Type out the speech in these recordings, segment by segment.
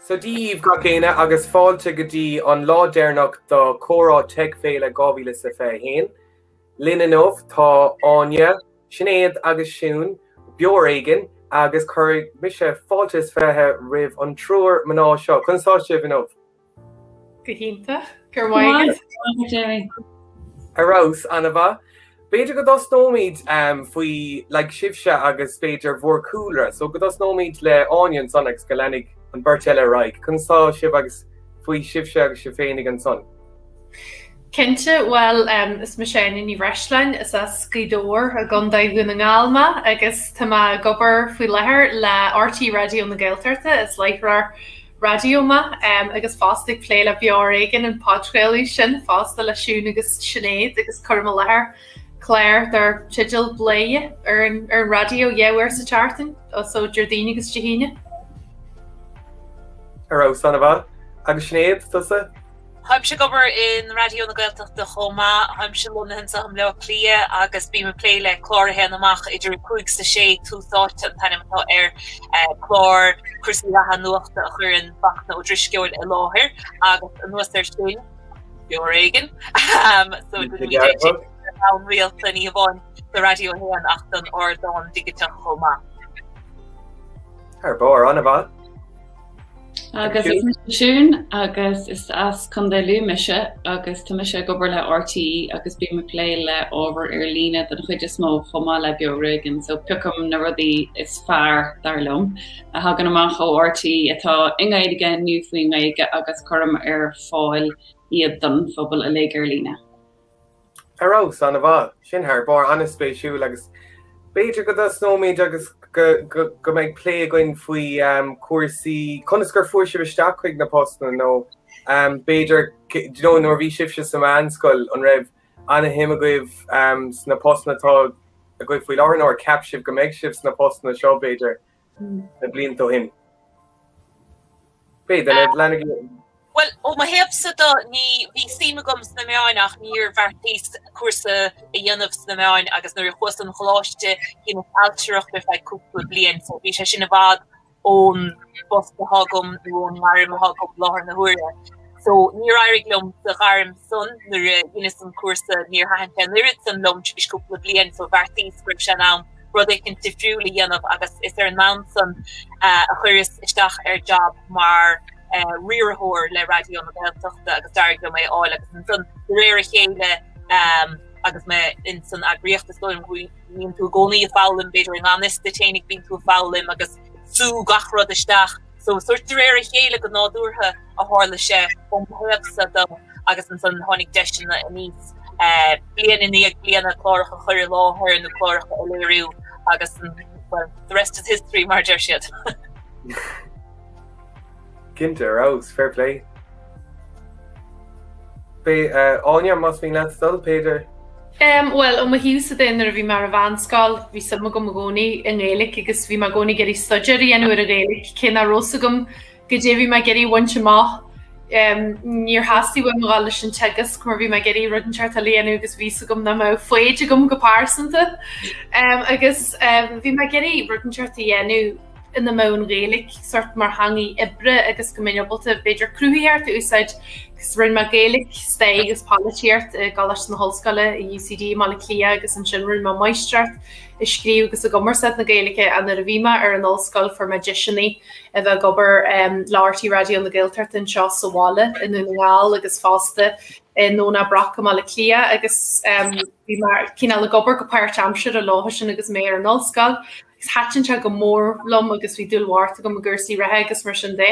Sé daoibh gach éinne agus fáilte go dtí an lá deireanach de Comhrá Teic Féile 2021. Linn inniu tá Áine, Sinéad agus Siún, Beo ar Éigean, agus cuirfidh mise fáilte is fiche roimh an triúr mná seo. Conas atá sibh inniu? Go hiontach. Go raibh maith agat. Go maith agat, Jamie. Ar fheabhas, an-mhaith. B'fhéidir go dtosnóimid faoi, like, sibhse agus b'fhéidir bhur cúlra. So, go dtosnóimid le Áine ansan agus go leanfaidh an bheirt eile ar aghaidh. Conas tá sibh agus faoi sibhse agus sibh féinig ansan? Cinnte, bhuel, em, is mise Áine Ní Bhreisleáin, is as Gaoth Dobhair i gContae Dhún na nGall mé agus tá mé ag obair faoi láthair le RTÉ Raidió na Gaeltachta, is láithreoir raidió mé agus fosta ag plé le Beo Ar Éigean, an podchraoladh sin fosta le Siún agus Sinéad agus cuirim i láthair clár dar teideal Bladhaire ar an raidió dhá uair sa tseachtain, so Déardaoin agus Dé hAoine. Ar fheabhas, an-mhaith. Agus Sinéad, tusa? Táimse ag obair in Raidió na Gaeltachta chomh maith. Táimse lonnaithe anseo i mBleá Cliath agus bím ag plé le clár a théann amach idir a 5 is a 6, Tús Áite an t-ainm atá air, clár cúrsaí reatha nuachta a chuireann Fachtna Ó Drisceoil i láthair agus anuas air sin, Beo ar Éigean, so téann sé amach go rialta, ní hamháin do Raidió 1 ach don ardán digiteach chomh maith. Thar barr, an-mhaith. Agus is mise Siún agus is as Contae Lú mise agus tá mise ag obair le RTÉ agus bím ag plé le ábhar ar líne den chuid is mó chomh maith le Beo ar Éigean so piocaim na rudaí is fearr dar liom a thagann amach ó RTÉ atá i nGaeilge nó faoin nGaeilge agus cuirim ar fáil iad don phobal uilig ar líne. Ar fheabhas, an-mhaith. Sin thar barr, an-spéisiúil agus b'fhéidir go dtosnóimid agus go mbeidh plé againn faoi chúrsaí, conas gur fuair sibh isteach chuig na postanna nó b'fhéidir nó nuair a bhí sibhse sa mheánscoil an raibh an-shuim agaibh sna postanna atá agaibh faoi láthair nó ar cheap sibh go mbeidh sibh sna postanna seo b'fhéidir na blianta ó shin. B'fhéidir go leanfaidh. Bhuel, ó mo thaobhsa de, ní, bhí suim agam sna meáin ach níor bheartaíos cúrsa a dhéanamh sna meáin agus nuair a chuas an choláiste dheineas ailtireacht ar feadh cúpla bliain so bhí sé sin i bhfad ón bpost atá agam nó ón ngairm atá agam i láthair na huaire. So níor éirigh liom sa ghairm san nuair a dheineas an cúrsa, níor thaitin sé an oiread san liom tar éis cúpla bliain, so bheartaíos go raibh sé in am rud éicint difriúil a dhéanamh agus is ar an mbonn san a chuireas isteach ar job mar riarthóir le Raidió na Gaeltachta agus d'éirigh liom é a fháil agus ansan de réir a chéile agus mé ins an eagraíocht is dóigh liom go mbíonn tú i gcónaí ag foghlaim, b'fhéidir i ngan fhios duit féinig bíonn tú ag foghlaim agus ag sú gach rud isteach. So sórt de réir a chéile go nádúrtha a tharla sé ó mo thaobhsa de agus ansan tháinig deiseanna aníos, bliain i ndiaidh bliana, cláracha a chur i láthair nó cláracha a léiriú agus well the rest is history mar deir siad. Cinnte, ar fheabhas, fair play. Áine, Más mian leat dul, Peadar. Em, bhuel, ó mo thaobhsa de, nuair a bhí mé ar an mheánscoil, bhí suim agam i gcónaí i nGaeilic agus bhí mé i gcónaí ag iarraidh staidéar a dhéanamh ar an Ghaeilic, cé nach raibh fhios agam goidé a bhí mé ag iarraidh a bhaint amach. Em, níor theastaigh uaim a dhul leis an teagasc mar bhí mé ag iarraidh rud inteacht eile a dhéanamh agus bhí fhios agam nach mbeadh foighid agam go pearsanta. Em, agus, em, bhí mé ag iarraidh rud inteacht a dhéanamh. ina mbeadh an Ghaeilic sort mar theangaidh oibre agus go mbeinn ábalta b'fhéidir cruthaitheacht a úsáid agus rinne mé Gaeilic Stair agus Polaitíocht i gColáiste na hOllscoile i UCD i mBaile Átha Cliath agus ansin rinne mé Máistreacht i Scríobh agus i gCumarsáid na Gaeilge an uair a bhí mé ar an ollscoil fuair mé deiseanna a bheith ag obair le RTÉ Raidió na Gaeltachta anseo sa bhaile i nDún na nGall agus fosta i nDomhnach Broc i mBaile Átha Cliath agus bhí mé cineál ag obair go páirt aimsire leofa sin agus mé ar an ollscoil Thaitin sé go mór liom agus bhí dúil bhocht agam i gcúrsaí reatha agus mar sin de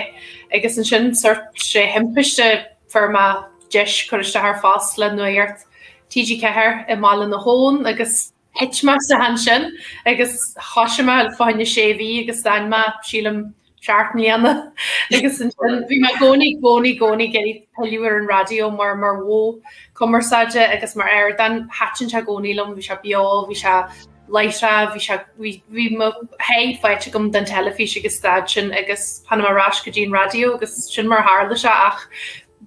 agus ansin sórt de thimpiste fuair mé deis cur isteach ar phost le Nuacht TG4, i mBaile na hAbhann agus thit mé isteach ansin agus thoisigh mé, fá choinne sé mhí agus d'fhan mé, sílim, seacht mbliana agus ansin bhí mé i gcónaí i gcónaí i gcónaí ag iarraidh pilleadh ar an raidió mar mar mhodh cumarsáide agus mar ardán thaitin sé i gcónaí liom bhí sé beo bhí sé láithreach bhí sé bhí bhí mo sháith faighte agam den teilifís agus stad sin agus tháinig mé ar ais go dtí an raidió agus sin mar a tharla sé ach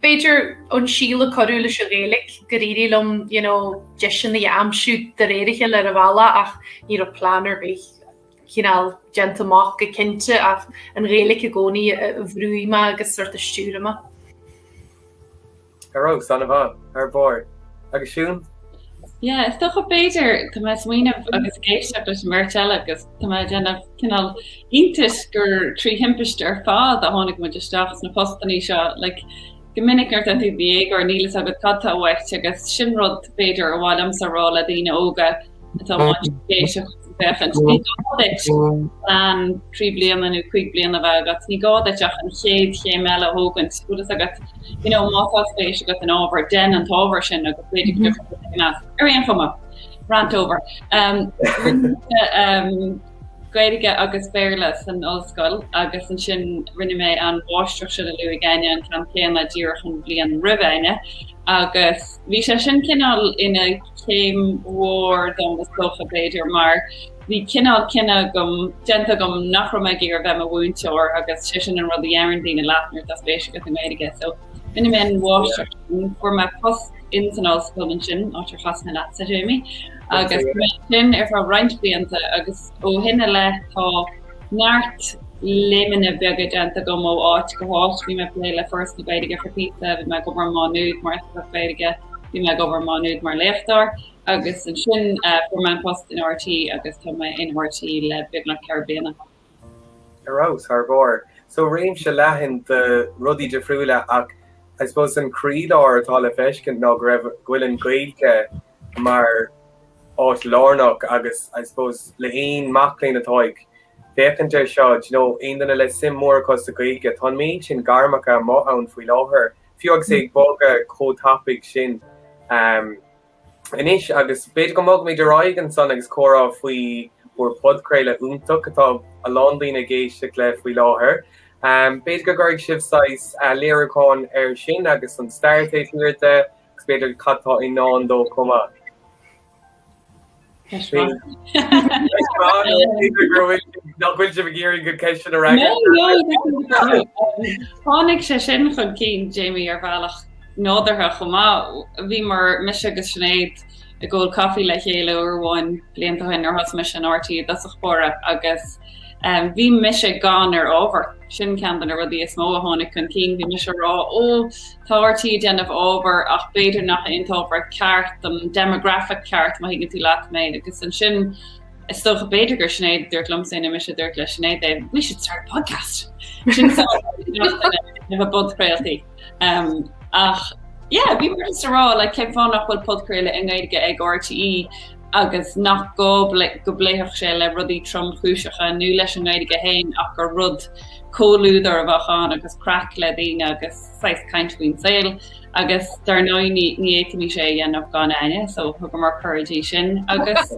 b'fhéidir an síol a cuireadh leis an Ghaeilge gur éirigh liom you know deiseanna a aimsiú de réir a chéile ar an bhealach ach ní raibh plean ar bith. cineál déanta amach go cinnte ach an Ghaeilic i gcónaí a bhrúigh mé agus sort a stiúraigh mé. Hello, San Iván, ar bord, agus Siún? Yeah, is dócha b'fhéidir, tá mé ag smaoineamh agus ag éisteacht leis an mbeirt eile agus tá mé ag déanamh cineál iontais gur trí thimpist ar fad a tháinig muid isteach sna postannaí seo, like, Go minic nuair atá tú ocht déag, níl fhios agat cad tá uait' agus sin rud b'fhéidir ar mhaith liomsa a rá le daoine óga atá, má tá siad ag féachaint, ní gá duit plean trí bliana nó cúig bliana a bheith agat, ní gá duit ach an chéad chéim eile a thógaint, bhfuil fhios agat. You know, má tá spéis agat in ábhar, dein an t-ábhar sin agus b'fhéidir go dtiocfaidh rud éigin as. Ar aon chuma, rant over. Um, rinne, um, Gaeilge agus Béarla san ollscoil agus ansin rinne mé an mháistreacht seo le Louis de Paor, an ceann céanna, díreach an bhliain roimh Áine, agus bhí sé sin cineál ina chéim mhór dom is dócha, b'fhéidir, mar bhí cineál cinneadh agam, déanta agam nach raibh mé ag iarraidh bheith i mo mhúinteoir agus sé sin an rud a deireann daoine leat nuair atá spéis agat i nGaeilge so rinne mé an mháistreacht sin, fuair mé post in san ollscoil ansin, áit ar chas mé leatsa, Jamie. agus chaith mé ansin ar feadh roinnt blianta agus ó shin i leith tá neart léimeanna beaga déanta agam ó áit go háit. Bhí mé ag plé le Foras na Gaeilge for píosa, bhí mé ag obair i Má Nuad mar oifigeach Gaeilge, bhí mé ag obair i Má Nuad mar léachtóir agus ansin fuair mé an post in RTÉ agus tá mé in RTÉ le beagnach ceithre bliana. Ar fheabhas thar barr. So réimse leathan de rudaí difriúla ach I suppose an croílár atá le feiscint ná go raibh, go bhfuil an Gaeilge, mar áit lárnach agus I suppose le haon mac léinn atá ag féachaint ar seo, do you know, aon duine le suim mór acu sa Gaeilge, tá an méid sin gairmeacha amuigh ann faoi láthair, fiú agus é ag bogadh chomh tapaidh sin ehm anois agus b'fhéidir go mbogfaimid ar aghaidh ansan agus comhrá faoi bhur podchraoladh iontach atá a lán daoine ag éisteacht le faoi láthair ehm b'fhéidir go gcuirfidh sibh saghas léiriúchán ar sin agus an stair taobh thiar de agus b'fhéidir cad atá i ndán dó chomh maith. Ceist bhreá. Ceist bhreá nó b'fhéidir go raibh sé, nach bhfuil sibh ag iarraidh an cheist sin a fhreagairt? No, no. Tháinig sé sin chun cinn, Jamie, ar bhealach nádúrtha chomh maith. Bhíomar, mise agus Sinéad, ag ól caife le chéile uair amháin blianta ó shin nuair thosaigh mise in RTÉ i dtosach báire agus bhí mise gann ar ábhar. Sin ceann de na rudaí is mó a tháinig chun cinn. Bhí mise a rá, 'Ó, Tá RTÉ ag déanamh ábhar ach b'fhéidir nach é an t-ábhar ceart don demographic ceart, má thuigeann tú leat mé. Agus ansin, is dócha, b'fhéidir gur Sinéad a dúirt liomsa é nó mise a dúirt le Sinéad é, we should start a podcast! Sin na podchraoltaí. Ach yeah, bhí mé just ag rá, like, cén fáth nach bhfuil podchraoladh i nGaeilge ag RTÉ? agus nach gá go bpléifeadh sé le rudaí tromchúiseacha nó leis an nGaeilge féin ach gur rud comhluadair a bheadh ann agus craic le daoine agus saghas caint faoin saol agus dar ndóigh ní fhéadfaimis é a dhéanamh gan Áine so thugamar cuireadh di sin agus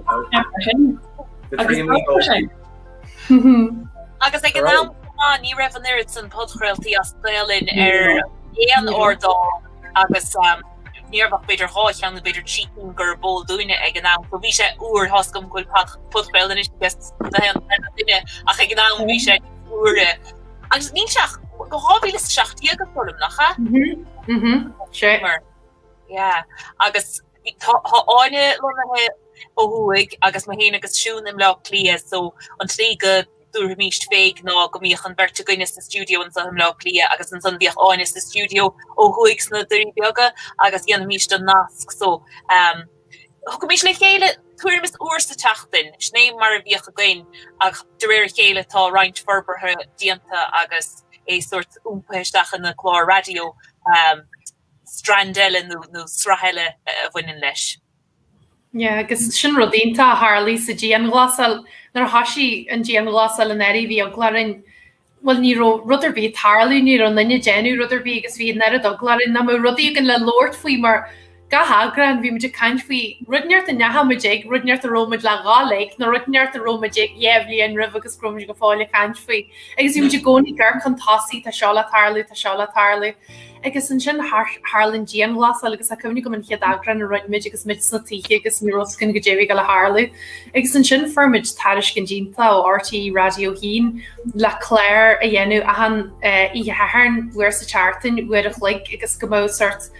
mar sin. Agus ag an am ná ní raibh an oiread san podchraoltaí as Gaelainn ar aon ardán agus Ní raibh ach b'fhéidir dhá cheann nó b'fhéidir trí cinn gurb eol dúinne ag an am. So bhí sé úr, tá a fhios agam go bhfuil podchraoladh anois ag gach aon duine ach ag an am bhí sé úr. Agus níl sé ach go 2017 go fóill liom, nach ea? Mhm, mhm, sea. Mar, yeah. Agus tá Áine lonnaithe ó thuaidh agus mé féin agus Siún i mBleá Cliath so an tslí go dtabharfaimís fé ná go mbíodh an bheirt againne sa stiúideo anso i mBleá Cliath agus ansan bhíodh Áine sa stiúideo ó thuaidh sna Doirí Beaga agus dhéanfaimís an nasc so thagaimís le chéile tuairim is uair sa tseachtain. Sin é mar a bhíodh againn ach de réir a chéile tá roinnt forbartha déanta agus é sort iompaithe isteach ina clár raidió strand eile nó sraith eile a bhaineann leis. Yeah, agus sin rud iontach a tharlaigh sa dianghlasáil. Nuair a thoisigh an dianghlasáil anuraidh bhí eagla orainn, bhuel ní raibh rud ar bith ag tarlú, ní raibh aon duine ag déanamh rud ar bith agus bhí an oiread eagla orainn nach mbeadh rudaí againn le labhairt faoi mar gach eagrán bhí muid ag caint faoi rud inteacht a ndeachaigh muid ag, rud inteacht a raibh muid le dhul ag nó rud inteacht a raibh muid ag dhá bhliain roimhe agus go raibh muid go fóill ag caint faoi. Agus bhí muid i gcónaí ag cur chun tosaigh, tá seo le tarlú, tá seo le tarlú. Agus ansin tharla an dianghlasáil agus tá cuimhne agam an chéad eagrán a rinne muid agus muid sna tithe agus ní raibh a fhios againn goidé a bhí ag gabháil a tharlú. Agus ansin fuair muid tairiscint iontach ó RTÉ Raidió a hAon le cláir a dhéanamh achan oíche Shathairn uair sa tseachtain uair a chloig agus go mbeadh sort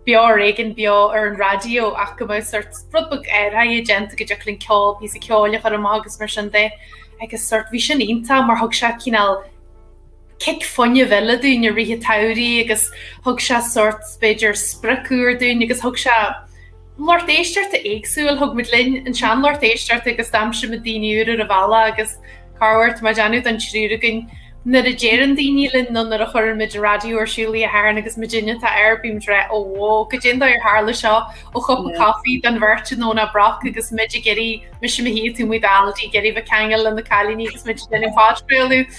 beo ar éigean beo ar an raidió ach go mbeadh sort rud beag athrach déanta go dtiocfadh linn ceol píosa ceoil a chur amach agus mar sin de agus sort bhí sin iontach mar thug sé cineál cic fuinnimh eile dúinn i rith an tsamhraidh agus thug sé sórt, b'fhéidir, sprioc úr dúinn agus thug sé lucht éisteachta éagsúil, thug muid linn an seanlucht éisteachta agus d'aimsigh muid daoine úra ar an bhealach agus cá bhfios, má dhéanamh don triúr againn, nuair a deireann daoine linn nó nuair a chuireann muid an raidió ar siúl oíche Shathairn agus muidinne atá air, bíonn muid ag ráit, óóó, goidé an dóigh ar tharla seo, ó chupa coffee don bheirt i nDomhnach Broc agus muid ag iarraidh, mise i mo shuí, tú muid Aldi, ag iarraidh bheith ceangail le na cailíní agus muid ag déanamh podchraoladh.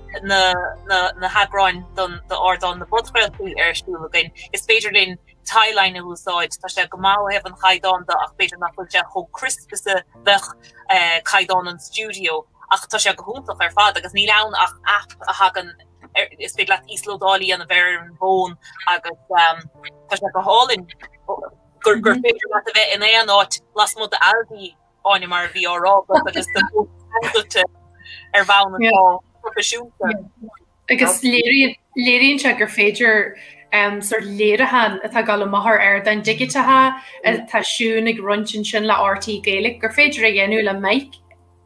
na heagráin d'ardán na bpodchraoltaí ar siúl againn. Is féidir linn tagline a úsáid. Tá sé go maith ó thaobh an chaighdeán de ach b'fhéidir nach bhfuil sé chomh crisp agus a a bheadh caighdeán an stiúideo ach tá sé go hiontach ar fad agus níl ann ach aip a thagann ar, is féidir leat íoslódáil a dhéanamh ar an bhfón agus tá sé go hálainn gur féidir leat a bheith in aon áit lasmuigh d'Aldi. Áine mar a bhí á rá agat agus do bhog scór duitse ar bhonn atá proifisiúnta. Agus léiríonn sé gur féidir sort léiriúchán atá ag dul amach ar ardáin dhigiteacha atá Siún ag roinnt ansin le RTÉ Gaelic, gur féidir a dhéanamh le mic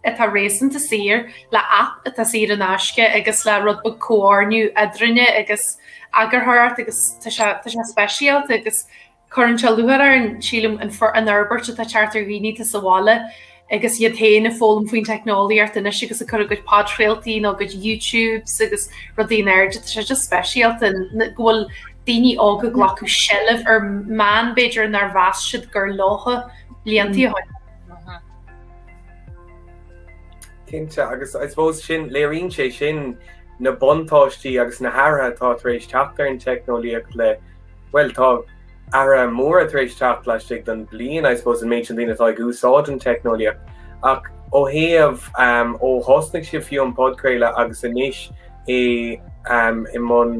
atá réasúnta saor, le aip atá saor in aisce agus le rud beag comhordú eadrainne agus eagarthóireacht agus tá sé speisialta agus Cuireann sé lúcháir orm, sílim, an fhorbairt atá ag teacht ar dhaoine atá sa bhaile agus iad féin ag foghlaim faoin teicneolaíocht anois agus ag cur a gcuid podchraoltaí nó a gcuid YouTubes agus rudaí in airde. Tá sé just speisialta go bhfuil daoine óga ag glacadh seilbh ar mheáin b'fhéidir nár mheas siad gur leofa iad blianta ó shin. Cinnte, agus I suppose sin, léiríonn sé sin na buntáistí agus na hathruithe atá tar éis teacht ar an teicneolaíocht le Bhuel tá athruithe móra tar éis teacht laistigh den bliain I suppose an méid sin daoine atá ag úsáid an teicneolaíocht ach ó thaobh ó thosnaigh sibh fiú an podchraoladh agus anois é i mbun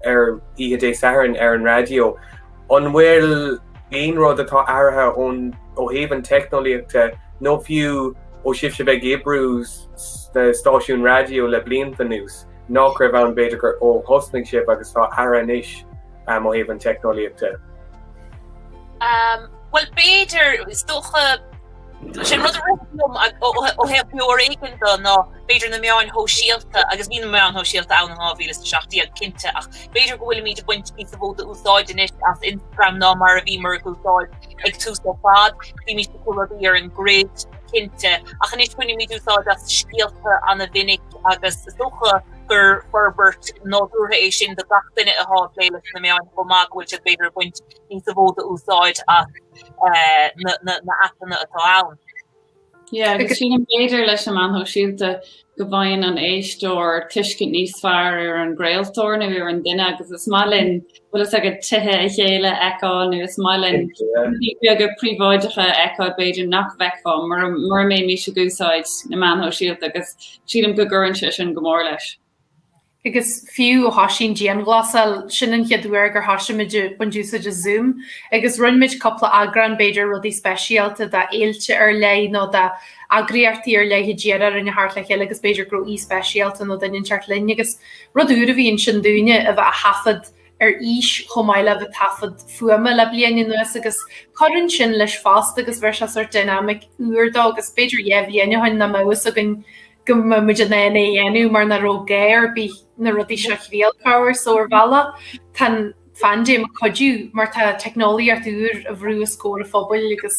ar oíche Dé Sathairn ar an raidió an bhfuil aon rud atá athraithe ón ó thaobh an teicneolaíochta nó fiú ó sibhse bheith ag oibriú sna stáisiúin raidió le blianta anuas? nach raibh ann b'fhéidir nuair a thosnaigh sibh agus atá agaibh anois ó thaobh an teicneolaíocht de? Bhuel b'fhéidir, is dócha, sin rud a rith liom ó thaobh ar chor éigin de ná b'fhéidir na meáin shóisialta agus bhí na meáin shóisialta ann in 2017 cinnte ach b'fhéidir go bhfuilimid ag baint níosa mhó úsáid anois as Instagram ná mar a bhíomar ag úsáid ag tús ar fad, bímid ag cur rudaí ar an grid cinnte ach anois bainimid úsáid as scéalta an-mhinic. agus is dócha gur forbairt nádúrtha é sin do gach duine atá ag plé leis na meáin chomh maith go bhfuil siad b'fhéidir ag baint níosa mhó d'úsáid as na haipeanna atá ann. Yeah, agus sílim b'fhéidir leis an meán shóisialta go bhfaigheann an éisteoir tuiscint níos fearr ar an gcraoltóir nó ar an duine agus is maith linn bhfuil fhios agat tithe a chéile a fheiceáil nó is maith linn rudaí beaga príobháideacha a fheiceáil b'fhéidir nach bhfeicfeá mura mura mbéimís ag úsáid na meáin shóisialta agus sílim go gcuireann sé sin go mór leis. Agus fiú ó thoisigh an dianghlasáil, sin an chéad uair gur thoisigh muid ag baint úsáid as Zoom agus rinne muid cúpla eagrán b'fhéidir rudaí speisialta de fhéilte ar leith nó de eagraíochtaí ar leith a d'iarr orainn a tharraingt le chéile agus b'fhéidir go raibh aoi speisialta nó duine inteacht linn agus Rud úr a bhí ansin dúinne a bheith á thaifead ar fhís chomh maith le bheith taifead fuaime le bliain anuas agus cuireann sin leis fosta agus bheir sé sort dynamic úr dó agus b'fhéidir dhá bhliain ó shin nach mbeadh fhios againn go mbeadh muid in ann é dhéanamh mar ní raibh gá ar bith na rudaí seo a thriail ach oiread so ar bhealach tá an phaindéim ag cuidiú mar tá teicneolaíocht úr á bhrú os comhair an phobail agus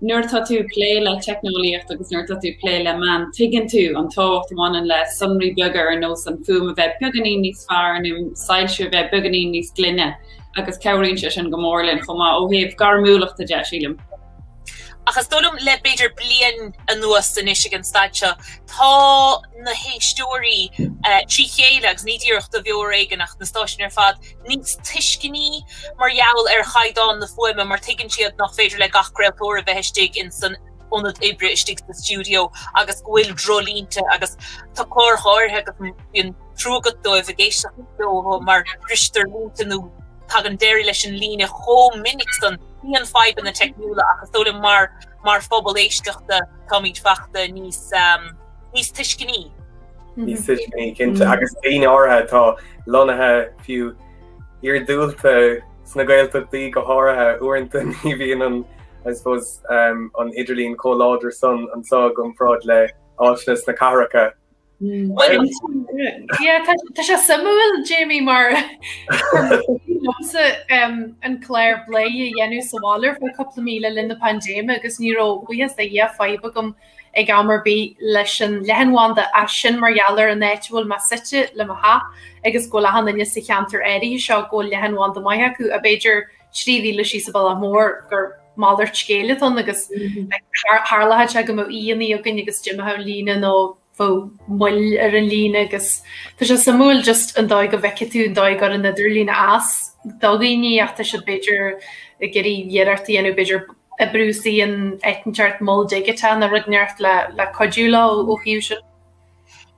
Nuair atá tú ag plé le teicneolaíocht agus nuair atá tú ag plé le meáin, tuigeann tú an tábhacht a bhaineann le sonraí beaga ar nós an fuaim a bheith beagáinín níos fearr nó soilsiú a bheith beagáinín níos glaine agus cabhraíonn sé sin go mór linn chomh maith ó thaobh gairmiúlachta de sílim. Ach is dóigh liom le b'fhéidir bliain anuas anois ag an staid seo, tá na héisteoirí trí chéile agus ní díreach do Bheo ar Éigean ach na stáisiúin ar fad, níos tuiscinní mar gheall ar chaighdeán na fuaime mar tuigeann siad nach féidir le gach craoltóir a bheith istigh ins an ionad oibre istigh sa stiúideo agus go bhfuil dreoilínte agus tá cláir áirithe agus bíonn trua agat dóibh ag éisteacht leo mar bristear línte nó tagann deireadh leis an líne chomh minic san. Bíonn fadhbanna teicniúla ach is dóigh liom mar mar phobal éisteachta táimid fachta níos níos tuisciní. Níos tuisciní cinnte agus daoine áirithe atá lonnaithe fiú iargúlta sna Gaeltachtaí go háirithe uaireanta ní bhíonn an I suppose an idirlíon chomh láidir san anseo i gcomparáid le áiteanna sna cathracha. Tá sé suimiúil Jamie mar an clár Bladhaire a dhéanamh sa bhaile ar feadh cúpla mí le linn na paindéime agus ní raibh buíochas de Dhia fadhb agam ag am ar bith leis an leathanbhanda as sin mar gheall ar an áit a bhfuil mé suite le mo theach agus go bhfuil achan duine sa cheantar áirithe seo go bhfuil leathanbhanda maith acu ach b'fhéidir trí mhíle síos sa bhaile mór gur malairt scéil atá ann agus tharlaíodh sé go mbeadh aíonna againn agus d'imeodh an líne nó bheadh moill ar an líne agus tá sé suimiúil just an dóigh a bhfeicfidh tú an dóigh ar an idirlíon as do dhaoine atá siad b'fhéidir ag iarraidh iarracht a dhéanamh b'fhéidir B'fhéidir go mbrúfaí in áit éicint mol digiteach nó rud éicint le cuidiú leo ó thaobh sin.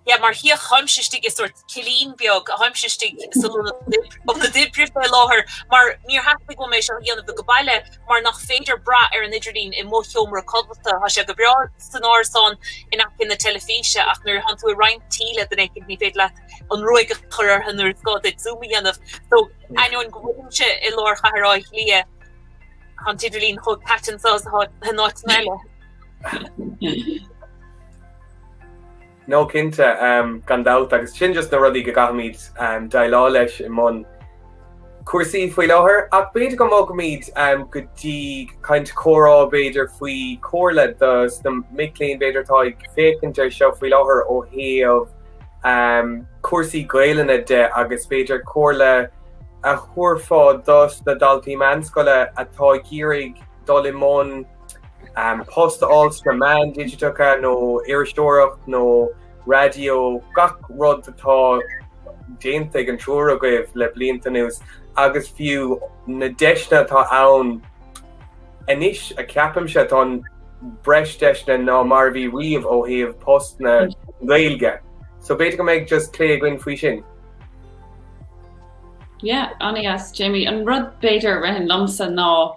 Yeah mar chíonn tú táimse istigh i sort cillín beag táimse istigh san ionad oibre fé láthair mar níor theastaigh uaim é seo a dhéanamh ag baile mar nach féidir brath ar an idirlíon i mo sheomra codlata tá sé go breá san árasán in aice na teilifíse ach nuair a chónaíonn tú i roinnt tí le daoine eile ní féidir leat an ruaig a chur orthu nuair is gá duit zoom a dhéanamh so d'ainneoin go bhfuilimse i lár chathair Áth Cliath Tá an t-idirlíon chomh caite anso is atá in áiteanna eile. No cinnte, gan dabht, agus sin just na rudaí go gcaithfimid déileáil leis i mbun cúrsaí faoi láthair. Ach b'fhéidir go mbogfaimid go dtí caint comhrá, b'fhéidir, faoi chomhairle do sna mic léinn, b'fhéidir, atá ag féachaint air seo faoi láthair ó thaobh cúrsaí Gaelainne de agus b'fhéidir comhairle, a thabharfá dos na daltaí meánscoile atá ag iarraidh dul i mbun post a fháil sna meáin digiteacha nó iriseoireacht nó raidió, gach rud atá déanta ag an triúir agaibh le blianta anuas agus fiú na deiseanna atá ann anois a cheapaimse atá breis deiseanna ná mar a bhí riamh ó thaobh post na Gaeilge. So b'fhéidir go mbeidh just plé againn faoi sin. Yeah, an-dheas Jamie. An rud b'fhéidir a ritheann liomsa ná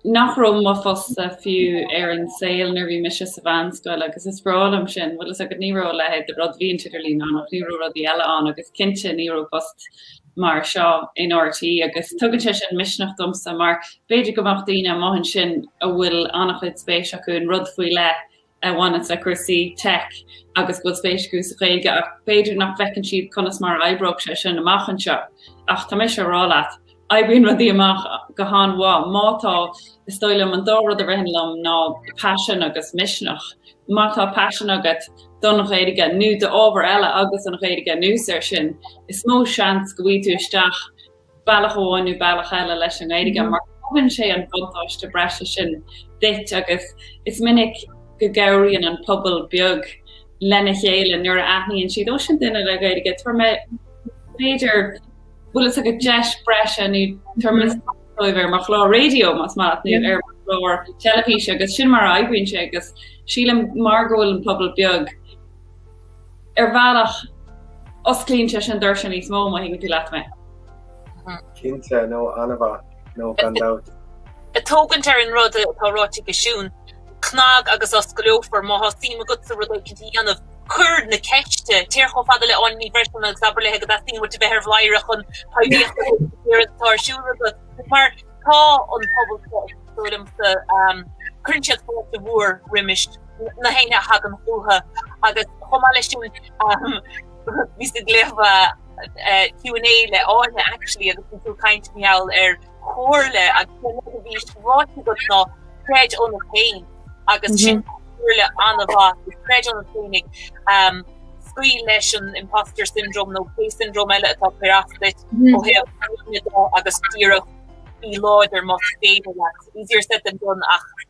nach raibh mo phostsa fiú ar an saol nuair a bhí mise sa mheánscoil agus is breá liom sin. Bhfuil fhios agat, ní raibh a leithéid de rud, bhí an t-idirlíon ann ach ní raibh rudaí eile ann agus cinnte ní raibh post mar seo in RTÉ agus tugann sé sin misneach domsa mar b'fhéidir go mbeadh daoine amuigh ansin a bhfuil an-chuid spéise acu in rud faoi leith a bhaineas le cúrsaí teic agus go bhfuil spéis acu sa Ghaeilge ach b'fhéidir nach bhfeiceann siad conas mar a oibreodh sé sin amach anseo. Ach tá mise ag rá leat, oibríonn rudaí amach go han-mhaith má tá, is dóigh liom, an dá rud a ritheann liom ná paisean agus misneach. Má tá paisean agat don Ghaeilge nó d'ábhar eile agus an Ghaeilge anuas air sin, is mó seans go bhfaighidh tú isteach. bealach amháin nó bealach eile leis an nGaeilge mar tugann sé an buntáiste breise sin duit agus is minic go gcabhraíonn an pobal beag lena chéile nuair a aithníonn siad, ó sin duine le Gaeilge, tabharfaidh mé, b'fhéidir, bhfuil fhios agat, deis breise nó tabharfaidh mé spás dóibh ar mo chlár raidió más maith leat nó ar mo chlár teilifíse agus sin mar a oibríonn sé agus sílim mar go bhfuil an pobal beag, Ar bhealach, osclaíonn sé sin doirse níos mó má thuigeann tú leat mé. Cinnte, nó an-mhaith, nó gan dabht. Ag tógaint ar an rud atá ráite ag Siún, cnag agus osclófar, má tá suim agatsa rud éicint a dhéanamh, cur na ceiste, téir chomh fada le Áine Ní Bhreisleáin agus abair léi go dteastaíonn uait a bheith ar Bhladhaire chun poiblíocht a thabhairt don iarracht atá ar siúl agat, mar tá an pobal seo, is dóigh liomsa, cuireann siad fáilte mhór roimis. roimh éinne a thagann chucu agus chomh maith leis sin bhíos ag léamh Q&A le Áine actually agus bhí tú ag caint maidir le chomhairle agus an rud a bhí ráite agat ná creid ionat féin agus sin comhairle an-mhaith. Creid ionat féin agus scaoil leis an imposter syndrome nó pé syndrome eile atá ag cur as duit ó thaobh agus díreach bí láidir más féidir. Easier said than done ach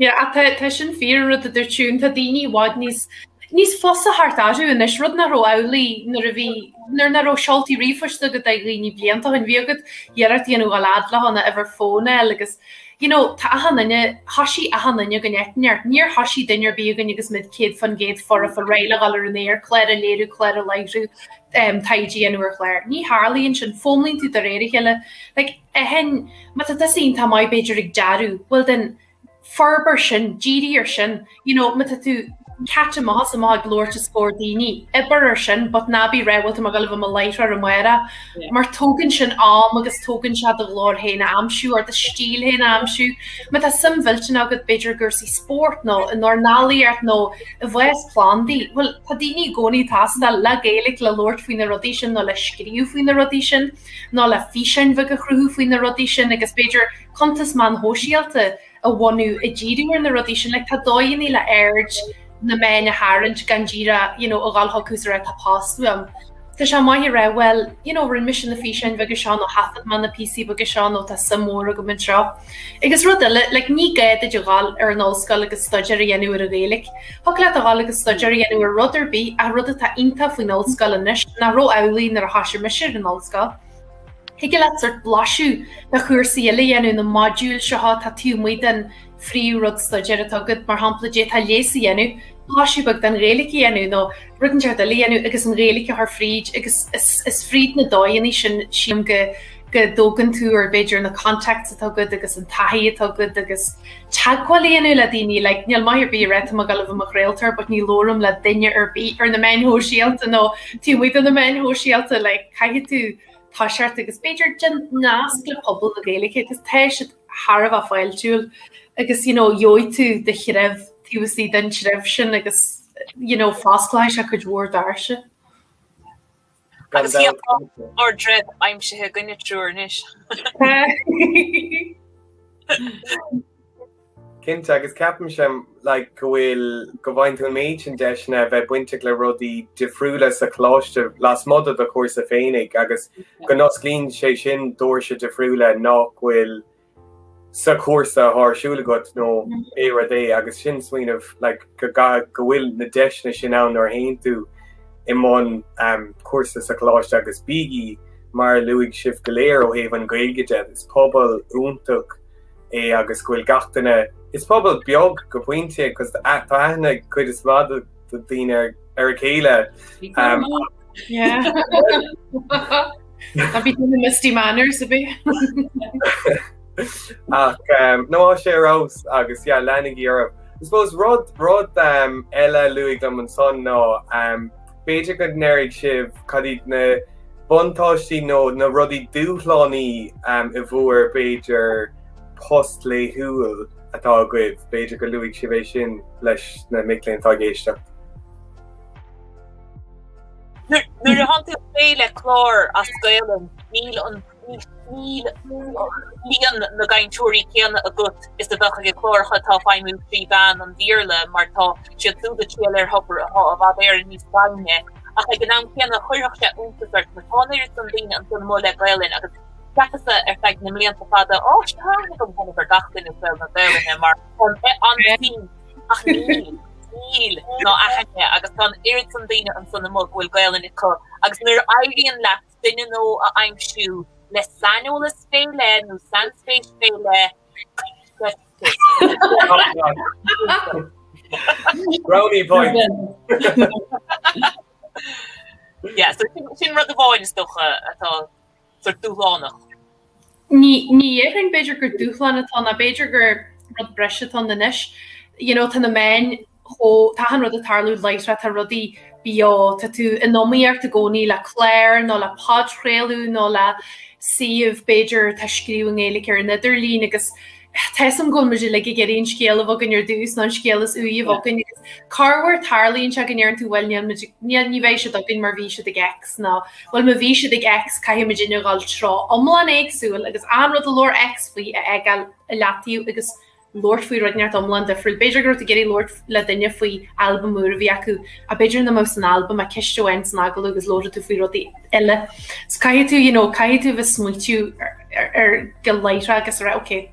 Ach tá sin fíor, an rud a dúirt Siún, tá daoine i bhfad níos fusa teacht orthu anois, rud nach raibh amhlaidh nuair a bhí, nuair nach raibh seoltaí ríomhphoist ag daoine blianta ó shin. Bhíodh agat iarracht a dhéanamh dul i ngleic lena uimhir fóin a fháil agus, you know, tá achan duine, thoisigh achan duine againn áit inteacht. Níor thoisigh duine ar bith againn agus muid céad faoin gcéad foirfe réidh le dhul ar an aer, cláir a léiriú, cláir a láithriú, taighde a dhéanamh ar chláir. Ní tharlaíonn sin, foghlaimíonn tú de réir a chéile. Like, i ndiaidh a chéile má tá tusa iontach maith b'fhéidir ag dearadh, bhuel then forbair sin, dírigh ar sin, you know má tá tú ceart maith is maith ag labhairt os comhair daoine, oibir ar sin but ná bí ag ráit, bhuel tá mé ag gabháil a bheith i mo láithreoir amárach. Mar tógann sin am agus tógann sé do ghlór féin a aimsiú or do stíl féin a aimsiú. Má tá suim mhillteanach agat b'fhéidir i gcúrsaí spóirt nó i ndornálaíocht nó i bhfás plandaí, bhuel tá daoine i gcónaí ag teastáil le Gaeilge le labhairt faoi na rudaí sin nó le scríobh faoi na rudaí sin. nó le físeáin bheaga a chruthú faoi na rudaí sin agus b'fhéidir cuntas meán shóisialta a bhunú ag díriú ar na rudaí sin. Like tá dóigheanna le aird na meán a tharraingt gan díreach you know a dhul chucu is a rá tá post uaim. Tá sé maith a rá well you know rinne mise na físeáin bheaga seo nó thaifead mé na píosaí beaga seo nó tá suim mhór agam anseo. Agus rud eile, like ní gá duit a dhul ar an ollscoil agus staidéar a dhéanamh ar an Ghaeilge. Thiocfadh leat a dhul agus staidéar a dhéanamh ar rud ar bith ach rud atá iontach faoin ollscoil anois nach raibh amhlaidh nuair a thosaigh mise ar an ollscoil, thiocfadh leat sort blaiseadh de chúrsaí eile a dhéanamh, na modúil seo atá taobh amuigh den phríomhrud staidéir atá agat, mar shampla d'fhéadfá leigheas a dhéanamh, blaiseadh beag den Ghaeilge a dhéanamh nó rud inteacht eile a dhéanamh agus an Ghaeilge a chur fríd agus is fríd na dóigheanna sin sílim go go dtógann tú ar b'fhéidir na contacts atá agat agus an taithí atá agat agus teagmháil a dhéanamh le daoine like níl maith ar bith a ráit tá mé ag gabháil a bheith i mo chraoltóir but ní labhraím le duine ar bith ar na meáin shóisialta nó taobh amuigh de na meáin shóisialta like caithfidh tú toiseacht agus b'fhéidir déan nasc le pobal na Gaeilge agus tá siad thar a bheith fáiltiúil agus you know gheobhaidh tú do threibh taobh istigh den treibh sin agus you know fosclóidh sé cuid mhór doirse. Gan dabht. Agus tá ár dtreibh aimsithe againne triúr anois. Cinnte, agus ceapaimse like go bhfuil, go bhfaigheann tú an méid sin deiseanna a bheith bainteach le rudaí difriúla sa choláiste lasmuigh de do chúrsa féinig agus go n-osclaíonn sé sin doirse difriúla nach bhfuil sa chúrsa atá ar siúl agat nó pé rud é agus sin smaoineamh like go go bhfuil na deiseanna sin ann nuair a théann tú i mbun um, cúrsa sa choláiste agus bígí mar a luaigh sibh go léir ó thaobh an Gaeilge de is pobal iontach é agus go bhfuil gach duine is pobal beag go pointe cos tá aithne cuid is mó daoine ar ar a chéile. Tá bhí tú mistí manner sa bhí. Ach no maith sibh ar aon nós agus leanaigí oraibh. I suppose rud rud eile luaigh Liam ansan ná b'fhéidir go ndéarfadh sibh cad iad na buntáistí nó na rudaí dúshlánacha i bhur b'fhéidir post laethúil. atá agaibh, b'fhéidir go luafadh sibh é sin leis na mic léinn atá ag éisteacht. Nuair a thánn tú ag plé le clár as Gaelainn, níl líon na gcainteoirí céanna agat is a bheadh ag na cláracha atá ag feidhmiú trí mheán an Bhéarla mar tá siad súd ag triall ar thobar atá i bhfad Éireann níos doimhne. Ach ag an am céanna chuirfeadh sé iontas ort, mar tá an oiread san daoine ansin amuigh le Gaelainn agus Cheapas-sa ar feadh na mblianta fada, á tá aithne agam anois ar gach duine i saol na Gaelainne mar sin ach níl, níl ná a haithne agus tá an oiread san daoine ansan amuigh go bhfuil Gaelainn acu agus nuair a éiríonn leat duine nua a aimsiú le saineolas fé leith nó sainspéis fé leith Brownie point! Sin rud amháin is dócha atá dúshlánach. Ní dhéarfainn, b'fhéidir gur dúshlán atá ann, nó b'fhéidir gur rud breise atá ann anois. You know, tá na meáin chomh, tá achan rud ag tarlú láithreach, tá rudaí beo, tá tú in iomaíocht i gcónaí le clár nó le podchraoladh nó le suíomh, b'fhéidir, atá ag scríobh i nGaeilge ar an idirlíon agus tá 'fhios a'm go bhfuil muid uilig ag iarraidh an scéal a bheith againn ar dtús nó an scéal is úire a bheith againn agus corruair tarlaíonn sé go ndeireann tú bhuel níl muid, ní bheidh siad againn mar bhí siad ag X. nó bhuel ma bhí siad ag X caithfidh muidne dul i dtreo iomlán éagsúil agus aon rud a labhair X faoi a fhágáil ar leataobh agus labhairt faoi rud inteacht iomlán difriúil. B'fhéidir go raibh tú ag iarraidh labhairt le duine faoi albam úr a bhí acu ach b'fhéidir nach mbeadh san albam ach ceist amháin san agallamh agus labhródh tú faoi rudaí eile. So caithfidh tú you know caithfidh tú a bheith smaoitiú air go láithreach agus a rá ok,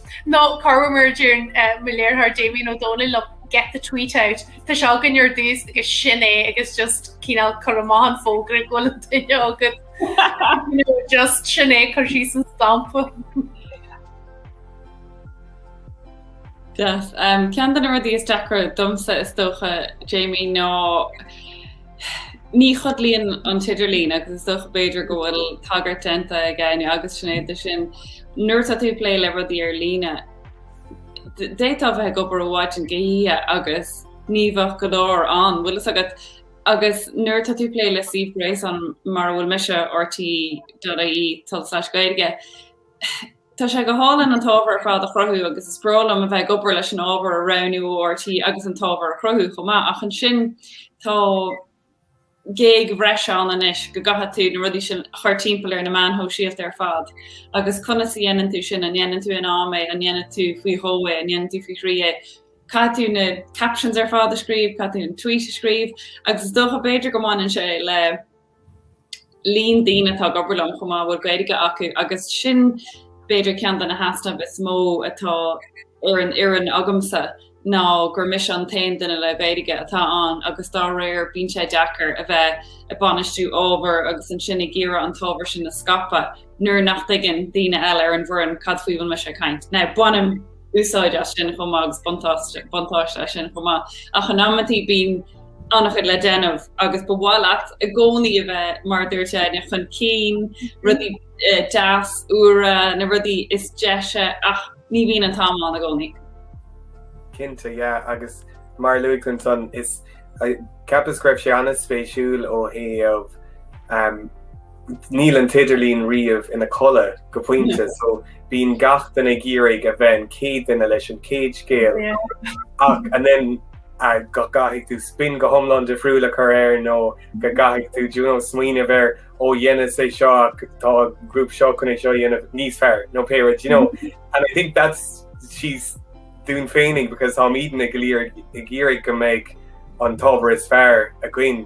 Nó corruair mar a deireann mo léiritheoir Damien Ó Dónaill liom, get the tweet out. Tá sé againn ar dtús agus sin é agus just cineál cur amach an fógra go bhfuil an duine agat just sin é cuir síos an stampa. Yes. Ceann de na rudaí is deacra domsa is dócha Jamie ná Ní chodlaíonn an t-idirlíon agus is dócha b'fhéidir go bhfuil tagairt déanta ag Áine agus Sinéad dó sin. Nuair atá tú ag plé le rudaí ar líne, d'fhéadfá a bheith ag obair ó mhaidin go hoíche agus ní bheadh go leor ann, bhfuil fhios agat? Agus nuair atá tú ag plé le suíomh gréasáin mar a bhfuil mise, RTÉ.ie tulslais Gaeilge, Tá sé go hálainn an t-ábhar ar fad a chruthú agus is breá liom a bheith ag obair leis an ábhar a roghnú ó RTÉ agus an t-ábhar a chruthú chomh maith ach ansin tá gig bhreise ann anois go gcaithfidh tú na rudaí sin a chur timpeall ar na meáin shóisialta ar fad agus conas a dhéanann tú sin, an ndéanann tú in am é, an ndéanann tú faoi dhó é, an ndéanann tú faoi thrí é? Caithfidh tú na captions ar fad a scríobh, caithfidh tú an tweet a scríobh agus is dócha b'fhéidir go mbaineann sé le. líon daoine atá ag obair liom chomh maith a bhfuil Gaeilge acu agus sin b'fhéidir ceann de na heasnaimh is mó atá ar an bhfoireann agamsa ná gur mise an t-aon duine le Gaeilge atá ann agus dá réir bíonn sé deacair a bheith ag bainistiú ábhar agus ansin ag iarraidh an t-ábhar sin a scaipeadh. nuair nach dtuigeann daoine eile ar an bhfoireann cad faoi a bhfuil mise ag caint. Now, bainim úsáid as sin chomh maith agus buntáiste as sin chomh maith. Ach in amantaí bíonn an-chuid le déanamh agus ba mhaith leat i gcónaí a bheith, mar a dúirt Áine, chun cinn, rudaí deas, úra, na rudaí is deise ach ní bhíonn an t-am ann i gcónaí. Cinnte, yeah, agus mar a luaigh tú ansan, is, ceapas go raibh sé an-spéisiúil ó thaobh, Níl an t-idirlíon riamh ina codladh go pointe so bíonn gach duine ag iarraidh a bheith an chéad duine leis an céad scéal ach and then go gcaithfidh tú spin go hiomlán difriúil a chur air nó go gcaithfidh tú you know, smaoineamh ar ó dhéanfainnse seo ach tá grúp seo chun é seo dhéanamh níos fearr nó pé rud, you know. Mm-hmm. And I think that's just dúinn féinig because táimidne go léir ag iarraidh go mbeidh an t-ábhar is fearr againn.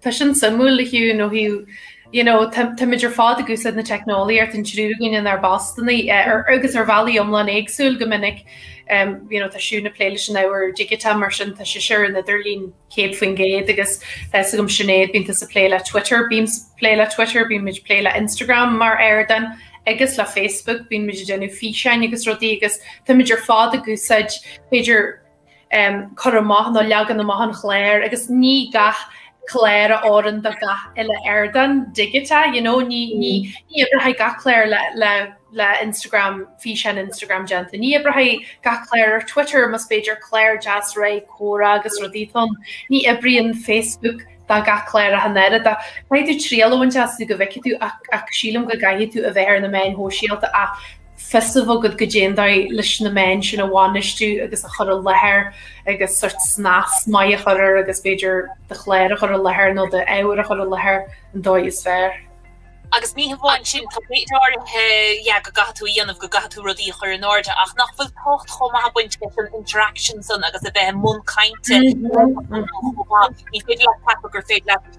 Tá sin suimiúil a Hugh, nó Hugh, you know, táimid ar fad ag úsáid na teicneolaíochta, an triú againn inár bpostanna agus ar bhealaí iomlán éagsúil go minic, you know, tá Siún ag plé leis an ábhar digiteach mar sin tá sise ar an idirlíon 100% agus tá a fhios agam Sinéad bíonn tusa ag plé le Twitter, bímse ag plé le Twitter, bíonn muid ag plé le Instagram mar ardán agus le Facebook, bíonn muid ag déanamh físeáin agus rudaí agus táimid ar fad ag úsáid b'fhéidir cur amach nó leagan amach an chláir agus ní gach clár a oireann do gach uile ardán digiteach, you know, ní oibreoidh gach clár le Instagram, físeán Instagram a dhéanamh de, ní oibreoidh gach clár ar Twitter mar b'fhéidir clár deas réidh comhrá agus rudaí atá ann, ní oibríonn Facebook do gach clár ach an oiread. Caithfidh tú triail a bhaint astu go bhfeicfidh tú ach sílim go gcaithfidh tú a bheith ar na meáin shóisialta ach fios a bheith agat goidé an dóigh leis na meáin sin a bhainistiú agus a chur i láthair agus sórt snas maith a chur air agus b'fhéidir do chlár a chur i láthair nó do ábhar a chur i láthair an dóigh is fearr. Agus ní hamháin sin, tá méid áirithe yeah go gcaithfidh tú a dhéanamh, go gcaithfidh tú rudaí a chur in airde ach nach bhfuil tábhacht chomh maith ag baint leis an interaction san agus a bheith i mbun cainte ní féidir leat ceapadh gur féidir leat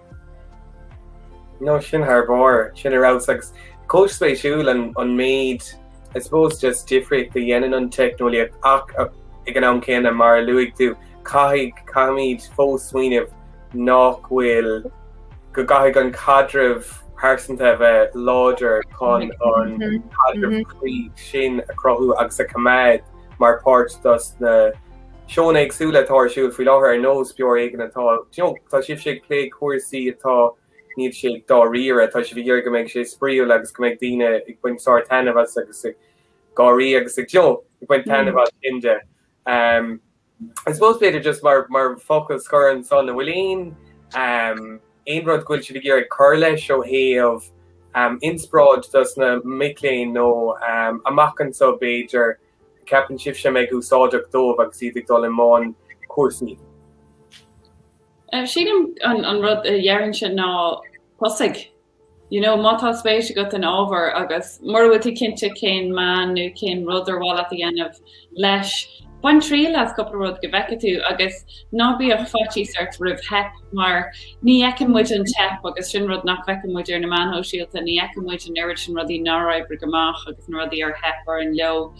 No sin thar bharr, sin ar fheabhas agus chomh spéisiúil an an méid I suppose just difríocht a dhéanann an teicneolaíocht ach ag an am céanna mar a luaigh tú caithfidh, caithfimid fós smaoineamh nach bhfuil, go gcaithfidh an caidreamh pearsanta a bheith láidir chun an caidreamh cuí sin a chruthú agus a choimeád mar pháirt dos na Seónna éagsúla atá ar siúl faoi láthair ar nós Beo ar Éigean atá, do you know, tá sibhse ag plé le cúrsaí atá, níl sé dáiríre, tá sibh ag iarraidh go mbeidh sé spraíúil agus go mbeidh daoine ag baint sár-taitneamh as agus ag gáirí agus ag, do you know, ag baint taitneamh as sin de. Umm I suppose b'fhéidir just mar mar focal scoir anso an bhfuil aon umm aon rud go bhfuil sibh ag iarraidh cur leis ó thaobh umm inspioráid dos na mic léinn nó umm amach anso b'fhéidir? ceapann sibhse a mbeidh úsáideach dóibh agus iad ag dul i mbun cúrsaí? Sílim an rud a déarfainnse ná tosaigh. You know, má tá spéis agat in ábhar agus mura bhfuil tú cinnte cén meán nó cén rud ar mhaith leat a dhéanamh leis, bain triail as cúpla rud go bhfeice tú agus ná bíodh faitíos ort roimh theip. mar ní fheiceann muid an teip agus sin rud nach bhfeiceann muid ar na meáin shóisialta, ní fheiceann muid an oiread sin rudaí nár oibrigh amach agus na rudaí ar theip orainn leo,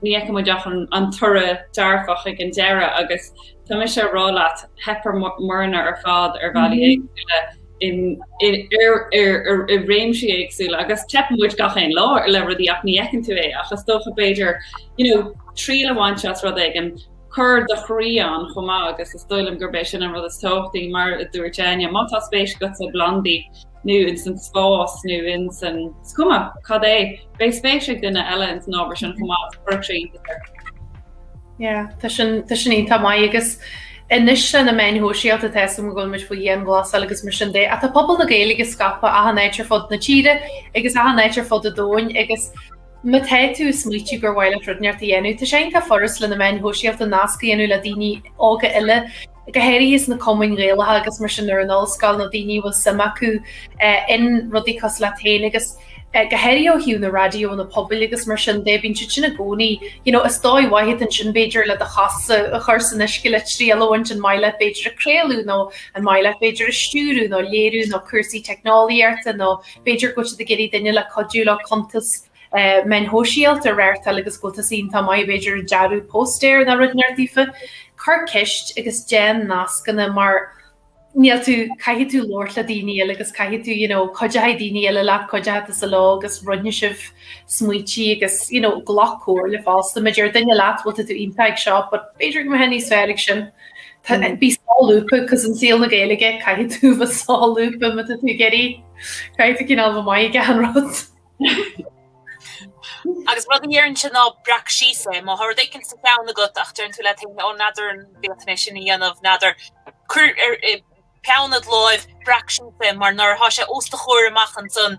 ní fheiceann muid ach an toradh dearfach ag an deireadh agus tá mise a' rá leat, theip orainne ar fad ar bhealaí éagsúla in, i, ar, ar, ar, i réimsí éagsúla agus teipeann muid gach aon lá le rudaí ach ní fheiceann tú é ach is dócha b'fhéidir, you know, triail a bhaint as rud éigin. cuir do chroí ann chomh maith agus is dóigh liom gurb é sin an rud is tábhachtaí mar a dúirt Áine. Má tá spéis agat sna plandaí nó ins an spás nó ins an, is cuma cad é, beidh spéis ag duine eile ins an ábhar sin chomh maith agus chuirfeadh sé iontas ort. Yeah, tá sin, tá sin iontach maith agus anois lena meáin shóisialta tá fhios agam go bhfuil muid faoi dhianghlasáil agus mar sin de, ach tá pobal na Gaeilge scaipthe achan áit ar fud na tíre agus achan áit ar fud an domhain agus Má tá tú ag smaoitiú gur mhaith leat rud inteacht a dhéanamh, tá sé iontach furast le na meáin shóisialta nasc a dhéanamh le daoine óga eile, go háirithe sna cumainn Ghaelacha agus mar sin ar an ollscoil nó daoine a bhfuil suim acu in rudaí cosúil leat féin agus go háirithe ó thaobh na raidiónna pobail agus mar sin de, bíonn siad sin i gcónaí, you know, is dóigh mhaith iad ansin b'fhéidir le do chos a chur san uisce le triail a bhaint an maith leat b'fhéidir ag craoladh nó an maith leat b'fhéidir ag stiúradh nó léiriú nó cúrsaí teicneolaíochta nó B'fhéidir go bhfuil siad ag iarraidh duine le cuidiú leo cuntas meáin shóisialta a reáchtáil agus go bhfuil tusa iontach maith ag, b'fhéidir, dearadh póstaeir nó rud inteacht daofa. Cuir ceist agus déan nascanna mar níl tú, caithfidh tú labhairt le daoine eile agus caithfidh tú you know cuideoidh daoine eile leat, cuideoidh tusa leo agus roinnfidh sibh smaointe agus you know glac comhairle fosta, má deir duine leat bhuel tá tú iontach ag seo but b'fhéidir go mbeifeá níos fearr ag sin. Bí solúbtha cos i saol na Gaeilge caithfidh tú a bheith solúbtha má tá tú ag iarraidh. Caithfidh tú cineál bheith maith ag achan rud. Agus rud a déarfainnse ná breac síos é. Má thá rud éigin sa cheann agat ach deireann tú leat féin 'Ó n'fheadar an bhféadfainn é sin a dhéanamh, n'fheadar. Cuir. peann id láimh, breac síos é mar nuair atá sé os do chomhair amach ansan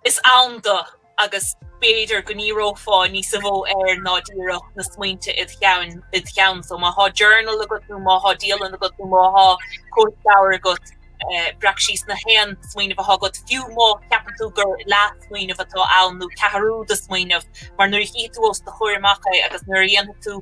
is ann dó agus b'fhéidir go ndíreofá níosa mhó air ná díreach na smaointe id cheann, id cheann so má thá journal agat nó má thá dialann agat nó má thá cóipleabhar agat breac síos aon smaoineamh atá agat fiú má cheapann tú gur leathsmaoineamh atá ann nó ceathrú de smaoineamh mar nuair a chífidh tú os do chomhair amach é agus nuair a dhéanfaidh tú